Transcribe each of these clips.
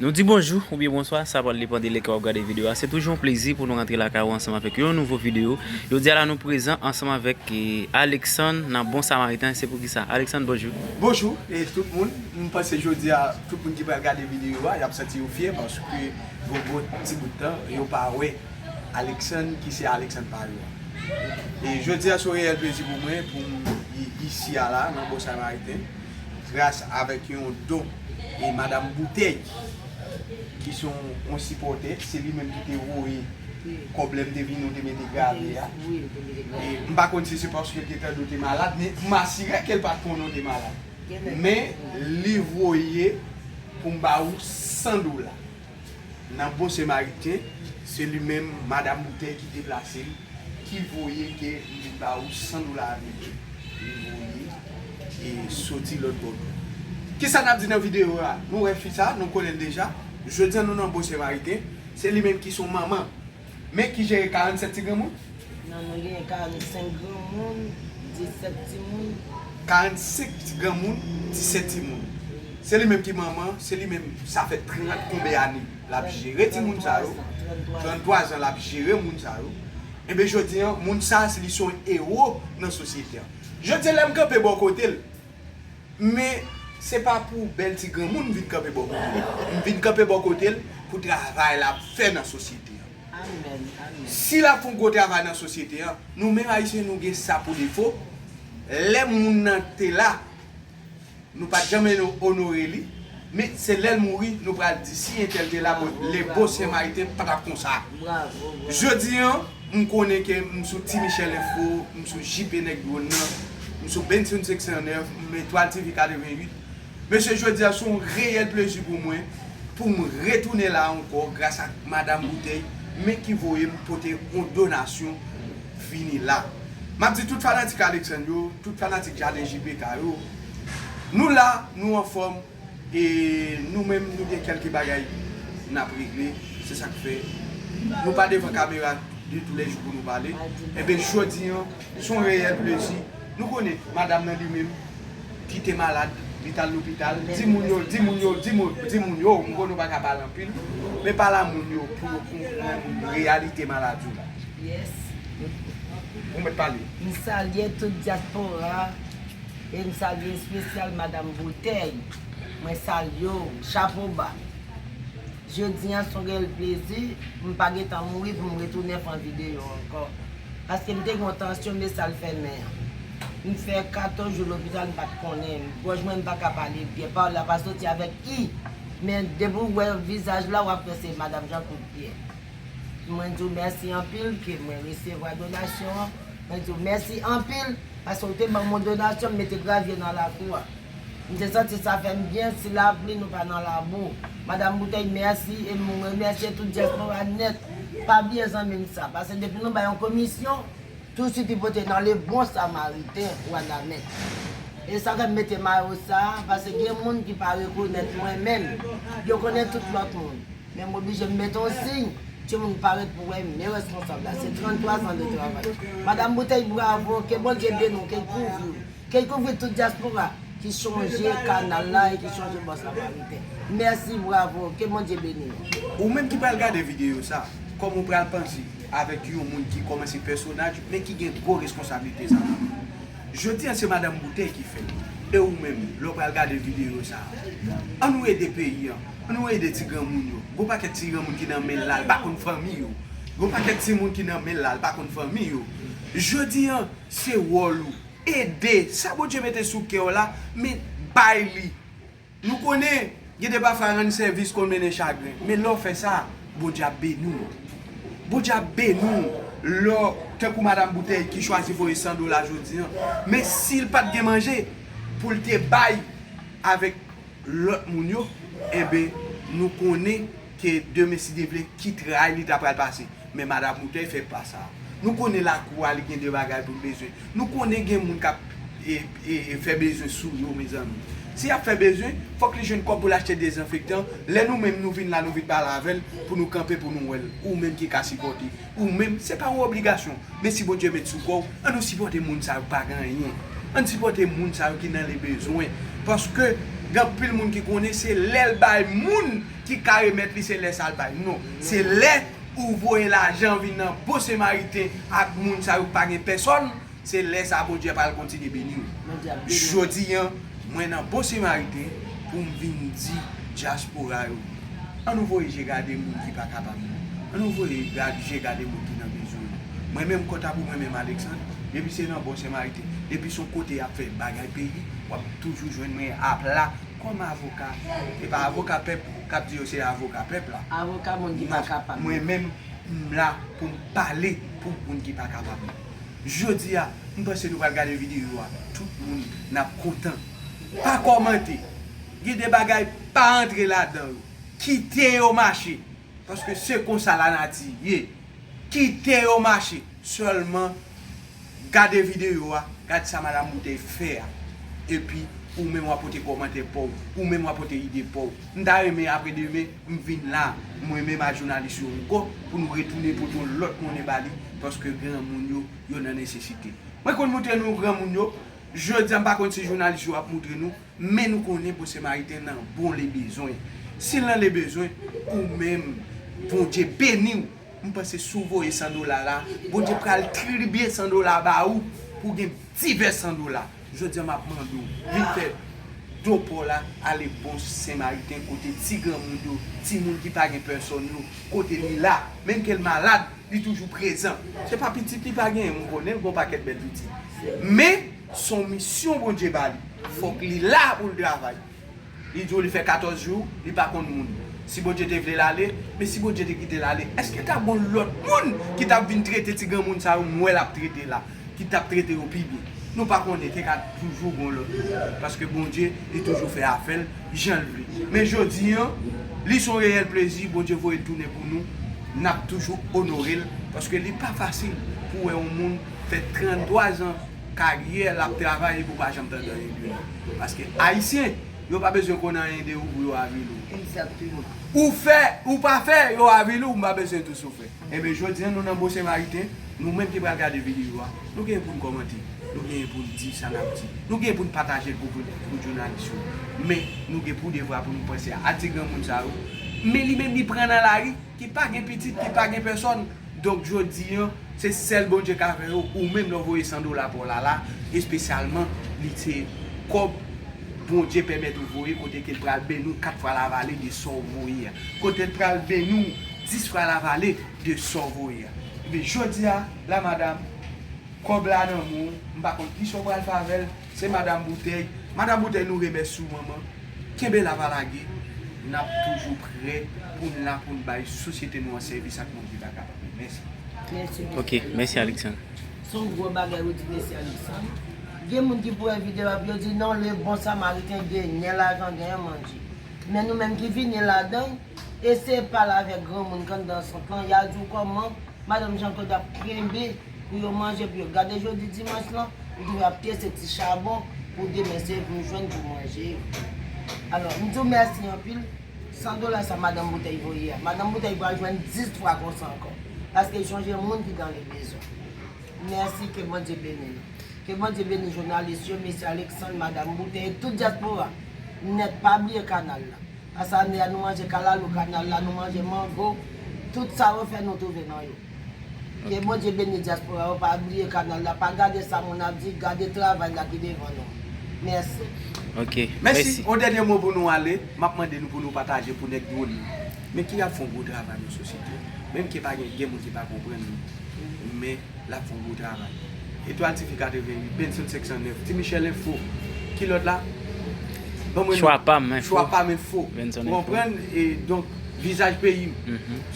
Nou di bonjou oubyen bonswa, sa pral depan de lè ke wap gade video a. Se toujou yon plezi pou nou rantre lakay ou ansanm avèk yon nouvo video. Jodi a la nou prezan ansanm avèk Alexandre nan Bon Samaritain, se pou kisa? Alexandre bonjou. Bonjou tout moun, m panse jodi a tout moun ki pral gade video a yap santi yo fyè paske yon bon ti bout tan yo pa wè Alexandre ki se Alexandre pa yo an. E jodi a se yon reyèl plezi pou mwen poum isi a la nan Bon Samaritain. gras avèk yon don e madam boutèy ki se yon sipòtè se li menm ki te voye kòb lè m te vini ou te mete grave a e m pa konn si se paske l te tande ou te malad men m asire ke l pa t konnen ou te malad men li voye pou m ba ou 100 dola. Nan bon semariten, se li menm madam boutèy ki deplase l, ki voye ke m vin ba ou san dola ameriken. Li voye e soti lòt bò dlo. Ki sa n ap di nan videyo a? Nou wè fi sa, nou konnen l deja. Jodi a nou nan bon semariten. Se li menm ki son manman. Men ki jere 47 ti granmoun? Nan nou genyen 45 granmoun, 17 timoun. 45 ti granmoun, 17 timoun. Se li menm ki manman, se li menm sa fè 30 konbe ane l ap jere timoun sa yo, 33 zan l ap jere moun sa yo. Enben jodi an, moun sa a se li se yon ewo nan sosyete an. Jodi an lè m kanpe bò kote l, Men, se pa pou bèl ti granmoun m vin kanpe bò kote l. M vin kanpe bò kote l pou travay l ap fè nan sosyete an. Si l ap fè yon gwo travay nan sosyete an, nou menm Ayisyen nou gen sa pou defo, lè moun nan te la, nou pa t janm onore li, men se lè l mouri nou pral di si entèl te la bon, le beau Saint Martin pa t ap konsa. Jodi an, M konnen ke m sou Ti Michel Info, m sou JP Nèg Dwon nan, m sou Benson 509, m sou Etoile TV 88. Mesye jodi a se yon reyèl plezi pou mwen pou m retounen la ankò gras ak Madam Boutèy men ki voye m pote yon donasyon vini la. M ap di tout fanatik Alexandre yo, tout fanatik Jaden JPK yo, nou la, nou anfòm. E nou menm nou gen kelke bagay nap regle se sak fè nou pa devan kamera de tou lè jou pou nou pale enben jodi an son reyèl plezi nou konnen madam nan li menm ki te malad li tal lopital di moun yo di moun yo di moun di moun yo m konnen ou pa ka pale anpil men pale a moun yo pou yo konprann reyalite maladi w la ou mèt pale. M salye tout diaspora E m salye espesyal madam boutèy. Mwen salye w. Chapo ba. Jodi an s on rèl plezi. M pa gen tan mouri pou m retounen pran videyo ankò. Paske m te gen yon tansyon me sa l fè men an. M fè 14 jou lopital m pa t konnen. Gòj mwen m pa ka pale byen. Pawòl la pa soti avèk i. Men depi w wè vizaj la w ap wè se madam Jean kout pyè. Mwen di w mèsi anpil ke mwen resevwa donasyon an. Mwen di w mèsi anpil. Pase ou te banm yon donasyon m mete gravye nan lakou a. M te santi sa fè m byen si lapli nou pa nan labou. Madam Boutèy mèsi e m remèsye tout dyaspora nèt. Pa bliye zanmi m sa. Pase depi nou bay yon komisyon, tou swit li pote nan le bon samariten wanament. E sa fè m mete mayo sa a, pase gen moun ki pa rekonèt mwen menm. Yo konnen tout lòt moun. Men m oblije m mete yon siy, timoun pa ret pou wè men responsab la, se 33 zan de travay. Madam Boutèy bravo, ke Bondye beni w, ke l kouvri w, ke l kouvri tout dyaspora ki chonje kanal la e ki chonje bòs la Maritè. Mèsi, bravo, ke Bondye beni w. Ou menm ki pral gade videyo sa, kòman w pral panse avèk yon moun ki kòmanse pèsonaj men ki gen gwo responsablite sa yo? Jodi a se Madam Boutèy ki fè l e ou menm lè w pral gade videyo sa, an nou ede peyi an An nou ede ti granmoun yo. Gon pakèt ti granmoun ki nan menl la li pa konn fanmi yo. Gon pakèt timoun ki nan menl la li pa konn fanmi yo. Jodi an se wòl ou ede sa Bondye mete sou kèw la men bay li. Nou konnen gen de pafwa rann sèvis konn mennen chagren men lèw fè sa Bondye ap beni w. Bondye ap beni w lè tankou madam boutèy ki chwazi voye 100 dola jodi an men sil pat gen manje poul te bay avèk. lòt moun yo enben nou konnen ke demen si Dye vle ki tray li ta pral pase men madam Boutèy fè pa sa a nou konnen lakou a li gen de bagay pou l bezwen nou konnen gen moun k ap fè bezwen sou yo mezanmi si y ap fè bezwen fòk li jwenn kòb pou l achte dezanfektan lè nou menm nou vin la nou vin pale avè l pou nou kanpe pou nou wè l ou menm ki ka sipòte. ou menm se pa yon obligasyon men si Bondye met sou kòw an nou sipòte moun sa yo pa gen anyen ann sipòte moun sa yo ki nan le bezwen paske gen anpil moun ki konnen se lèl bay moun ki ka remèt li se lè sal bay non se lè ou voye lajan vin nan bon semariten ak moun sa yo ki pa gen pèsòn. Se lè sa Bondye pral kontinye beni w. Jodi an, mwen nan Bon Semariten pou m vin di dyaspora yo, an nou voye je gade moun ki pa kapab yo, an nou voye je gade moun ki nan bezwen yo. Mwen menm kòta pou mwen menm Alexandre, depi se nan Bon Semariten, depi son kote y ap fè bagay peyi, w ap toujou jwenn mwen apla kòm avoka. Se pa avoka pèp k ap di yo se avoka pèp la. Avoka moun ki pa kapab yo. Mwen menm m la pou m pale pou moun ki pa kapab yo. Jodi a m panse nou pral gade video a tout moun nap kontan pa kòmante gen de bagay pa antre ladan yo kite yo mache paske se konsa la nati ye kite yo mache sèlman gade video a gad sa madam boutèy fè a epi ou menm wa pote kòmantè paw ou menm wa pote ide paw m ta renmen apre demen M vin la mwen menm a jounalis yo anko pou nou retounen pote yon lot monnen ba li paske granmoun yo yo nan nesesite. Mwen konn moutre nou granmoun yo, jodi a m pa konn si jounalis yo ap moutre nou men nou konnen bon semariten nan bon le bezwen. Si l nan le bezwen ou menm Bondye beni w m panse si w voye 100 dola la Bondye pral tribiye 100 dola ba ou pou w gen divès 100 dola. Jodi a map mande w vin fè do paw la ale bon senmariten kote ti granmoun yo, timoun ki pa gen pèsòn yo, kote li la, menm ke l malad li toujou prezan. Se pa pitit li pa genyen, m konnen l gon pakèt bèl pitit. Men son misyon Bondye ba li, fòk li la pou l travay. Li di w li fè 14 jou li pa konn moun. Si Bondye te vle l ale, men si Bondye te kite l ale, èske ta gon lòt moun ki t ap vin trete ti granmoun sa yo m wè l ap trete la, ki t ap trete yo pi byen? Nou pa konnen, te ka toujou gon lòt moun. Paske Bondye, li toujou fè afè l jan l vle. Men jodi an, li s on reyèl plezi Bondye voye l tounen pou nou, n ap toujou onore l, paske li pa fasil pou w wè on moun fè 33 zan, Karyè lap travay li pou pa janm tande anyen de li. Paske ayisyen yo pa bezwen konn anyen de ou pou yo avili ou. Exactement. Ou fè ou pa fè yo avili ou m pa bezwen tou si w fè. Enben jodi an nou nan Bon Senmariten, nou menm ki pral gade videyo a, nou genyen pou n kòmante, nou genyen pou n di sa n ap di, nou genyen pou n pataje l pou pou jounalis yo. Men nou gen pou devwa pou nou panse a ti granmoun sa yo. Men li menm li pran nan lari. Ki pa gen pitit, ki pa gen pèsòn, donk jodi an, se sèl Bondye k avè yo, ou menm lè w voye 100 dola pa w Lala, espesyalman, li se kòb Bondye pèmèt ou voye kote ke l pral beni w 4 fwa lavale de sa w voye a, kote l pral beni w 10 fwa lavale de sa w voye a. Ebyen, jodi a, la madam, kòb la nan men w, m pa konn ki sa w pral fè avè l, Se madam boutèy, madam boutèy nou remèsye w manman, kenbe la pa lage, nap toujou prè poun la poun bay sosyete nou an sèvis ak moun ki ta kapab yo. Mèsi. Mèsi mesye Alexandre. Son gwo bagay ou di mesye Alexandre. Gen moun ki pou wè video a pou yo di non le bon samariten genyen lajan genyen manje. Men nou menm ki vini ladan eseye pale avèk granmoun ki anndan sant lan ya di w kòman madanm Jean Claude ap kenbe pou yo manje pou yo gade jodi dimanch lan ou toujou ap kese ti chabon pou demen se vin jwenn pou manje yo alò m diw mèsi anpil 100 dola sa madanm boutèy voye a madanm boutèy pral jwenn 10 fwa konsa ankò paske sonje moun ki gan le bezwen mèsi ke Bondye beni nou ke Bondye beni jounalis yo mesye Alexandre madam boutèy tout diaspora nèt pa bliye kanal la pase ane a nou manje kalalou kanal la nou manje mango tout sa yo fè nou twouve nan yo. Ke Bondye beni diaspora yo pa bliye kanal la pa gade sa moun ap di gade travay la ki devan nou merci. Ok mèsi. Mèsi. On dènye mo pou nou ale, map mande nou pou nou pataje pou nèg drone yo. Men ki ap fon gwo travay nan sosyete a. Menm ke pa gen gen moun ki pa konprann li. Men lap fon gwo travay. Etoile TV 88, Benson 509, Ti Michel info, ki lòt la? Banm yon lòt. Chwa pam info. Chwa pam info. Benson info. Ou konprann? E donk vizaj peyim.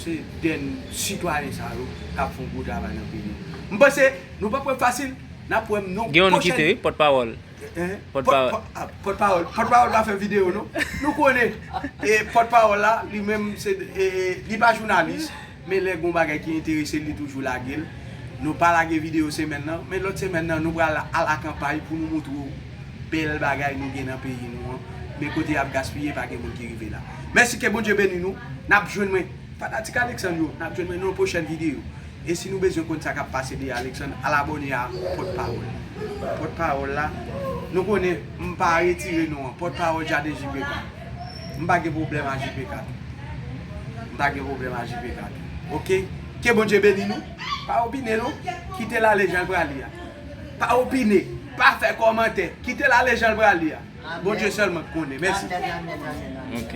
Se. den sitwayen sa yo kap fon gwo travay nan peyi an. M panse nou pap wè fasil nap wè m non pwochèn. Pòtpawòl pa fè video non. Nou konnen pòtpawòl la li menm li pa jounalis men lè gon bagay ki enterese l li toujou lage l. Nou pa lage video semèn nan men lòt semèn nan nou pral al a kanpay pou nou montre w bèl bagay nou gen nan peyi nou an men kote yap gaspiye pa gen moun ki rive la. Mèsi ke Bondye beni nou nap jwenn mwen. Fanatik Alexandre yo, nap jwenn mwen nan yon pwochèn videyo. E si nou bezwen konn sa kap pase de Alexandre, al abòne a Pòt Pawòl. Pòt Pawòl la, nou konnen m pa retire non an, Pòt Pawòl Jaden JPK. M pa gen pwoblèm a JPK tou. M pa gen pwoblèm a JPK tou. Ok? Ke Bondye beni nou. Pa opine non. Kite l ale jan l prale a. Pa opine. Pa fè kòmantè. Kite l ale jan l prale a. Bondye sèlman k konnen. Mèsi. Ok.